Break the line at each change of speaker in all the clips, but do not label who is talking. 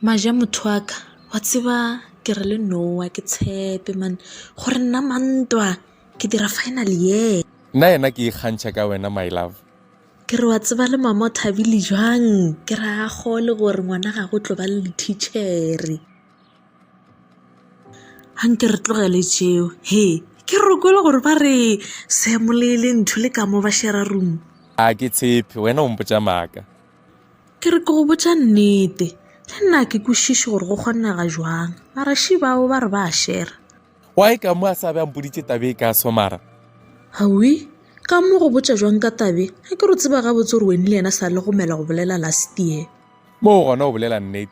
maja motho wa ka wa tseba ke re le nowa ke tshepe mane gore nna mantwa ke dira final ye nna yena ke
ikgantšha ka wena my love ke re wa tseba
le mama o thabile jwang ke re a gole gore ngwana ga go tlo ba le lectichere A nke re tlogele tšeo, he, ke re o kwele gore ba re Sam le le ntho le ka mo ba shera room. A ke tshepe,
wena o mpotša maaka. Ke re
ke go botša nnete, le nna ke kwešiše gore go kgonnega jwang, mara she bao ba re ba a shera. Why ka mo
a sa be a mpoditše tabe e ka somara? Hawi,
ka mo go botša jwang ka tabe, a ke re o tseba gabotse gore weni le yena sa le gomela go bolela last year. Moo gona o
bolela nnete.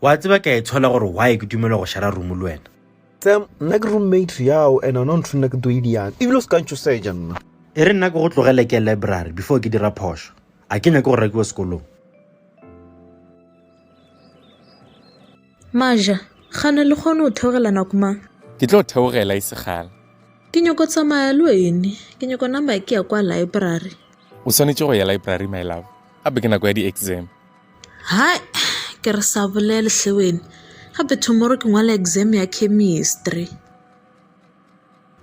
Wa tseba ke a itshola gore why ke dumele go shara room le wena. Sam, nna ke
roommate yao and ona ntho nna ke tlo idiang. Ebile o se ka ntšhoseja nna. E re nna ke go tlogele
ke library before ke dira phošo. A ke nyake go rakiwa sekolong.
Maja, gana le kgone go theogela nako mang? Ke tlo theogela
e segala. Ke nyoko
tsamaya le wene. Ke nyoko nama ke ya kwa library. O swanetše go
ya library my love. Gape ke nako ya di-exam. Hai
ke re sa bolele hle wena gape tomorrow ke ngwala exam ya chemistry.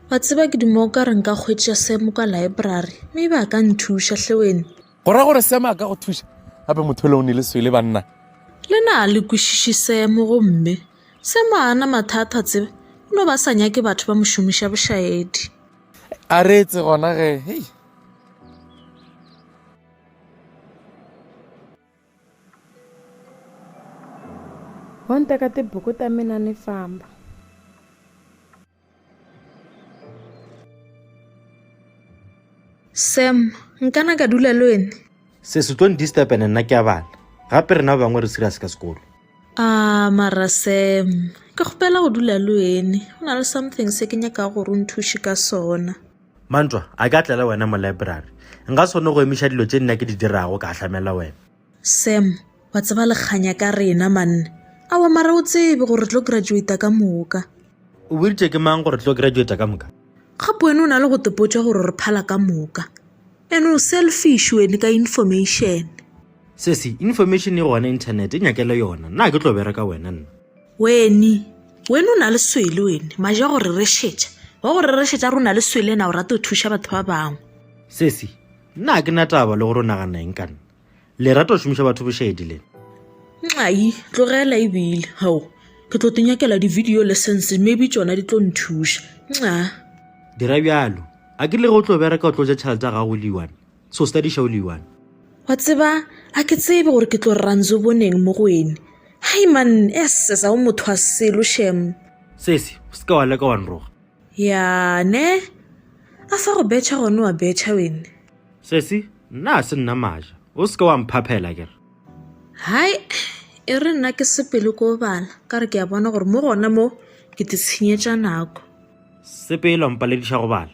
Wa tseba ke duma o ka re nka kgwetša Sam kwa library maybe a ka nthuša hle wena. Go ra gore Sam a
ka go thuša gape motho le o ne le swele banna. Le na le
kwešiše Sam gomme Sam a ana mathata tseba o no ba sa nyake batho ba mo šomiša bošaedi. A
reetse gona ge hei.
Ho nteka tibuku ta mina ni famba.
Sam, nkana ka dula le wena? Se se tlo ndisturb
ene nna ke a bala. Gape rena ba bangwe re serious ka sekolo. Ah, mara
Sam, ke kgopela go dula le wena. Go na le something se ke nyakago gore o nthuše ka sona. Mantwa, a
ke a tlela wena mo laeborari? Nka sone go emiša dilo tše nna ke di dirago ka ahlamela wena. Sam,
wa tseba lekganya ka rena manne. Awa mara o tsebe gore re tlo graduata ka moka. O boditše ke
mang gore re tlo graduata ka moka? Gape wena o na le
go tepotša gore re phala ka moka. Ene o selfish wene ka information. Sesi,
information e gona internet, e nyakele yona. Nna a ke tlo bereka wena nna. Weni,
weni o na le swele weni, maje a go re rešetša. Wa go re rešetša runa le swele na o rate go thuša batho ba bangwe. Sesi,
nna ga ke na taba le gore o nagana eng ka nna. Le rata go šomiša batho bošedi le. Nxai,
tlogela e bile, hao, ke tlo tinyakela di-video lessons maybe tšona di tlo nthuša. Nxa. Dira
bjalo. A ke le ge o tlo bereka o tlo ja tšhelete ya gago o le one. So study show le one. Wa tseba,
a ke tsebe gore ke tlo ranzo boneng mo go ene. Hai man, esses a o motho wa selo shem. Sesi, o seka
wa leka wa nroga. Ya,
ne? A fa go betšha gone wa betšha wene. Sesi,
nna a se nna maja. O seka wa mphaphela ke re. Hai,
e re nna ke sepele ko bala, ka re ke a bona gore mo gona mo ke titshinyetša nako. Sepele
wa mpalediša go bala.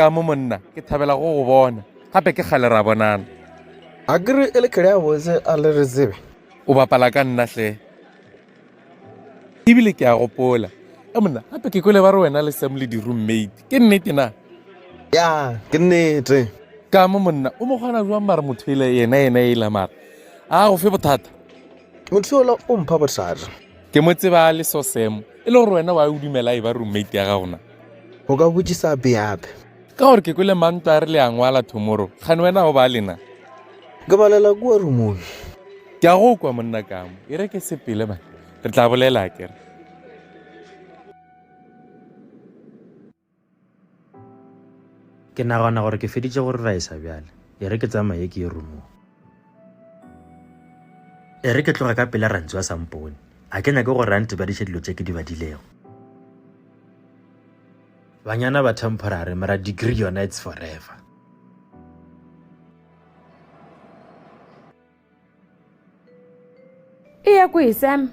ka mo monna ke thabela go go bona gape ke kgale ra bonana a kere
e le kgele ya botse a le
re
tsebe
o
bapala ka
nna
hle ebile
ke a gopola e monna gape ke kwele ba re wena le sam le di-roommate ke nnete na ya
ke nnete ka mo monna
o mo kgona jwang mare motho ele yena yena e la mara a go fe bothata motho ola
o mpha bothata ke mo tseba
le so sam e le gore wena wa o dumela e ba roommate ya gagona O ka botšiša
bjab? Ka gore ke kwele
mantwa a re le a ngwala tomorrow. Kgane wena o ba lena? Ke balela
kua rumong. Ke a go
kwa monna kamo. E re ke sepele ba. Re tla bolela a kere.
Ke nagana gore ke feditše go reraisa bjale. E re ke tsamaye ke ye rumong. E re ke tloga ka pela Rantsu a sa mpone. A ke nyake gore a ntebadiše dilo tše ke di badilego. Banyana ba temporary, mara degree yona it's forever.
E ya kwe, Sam?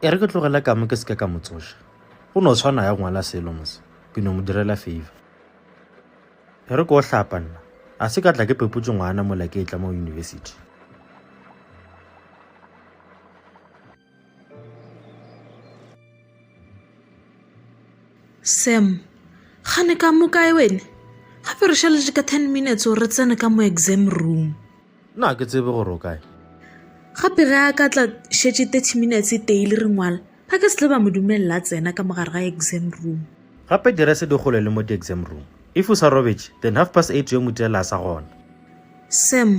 e re ke tlogele kamo ke seke ka mo tsoša go no tshwana ya ngwala selo mose ke no mo direla favor e re ke o hlapa nna a se ka tla ke pepotse ngwana mola ke e tla mo university
Sam, gane ka mo kae wene gape re šaletše ka ten minutes gore re tsene ka mo exam room na ke tsebe
gore o kae gape
ge a ka tla šetše thirty minutes e teile re ngwala ba ka se tle ba mo dumelela tsena ka mogare ga exam room gape direse di
gole le mo di-exam room if o sa robetše then half past eight yo motela a sa gona Sam,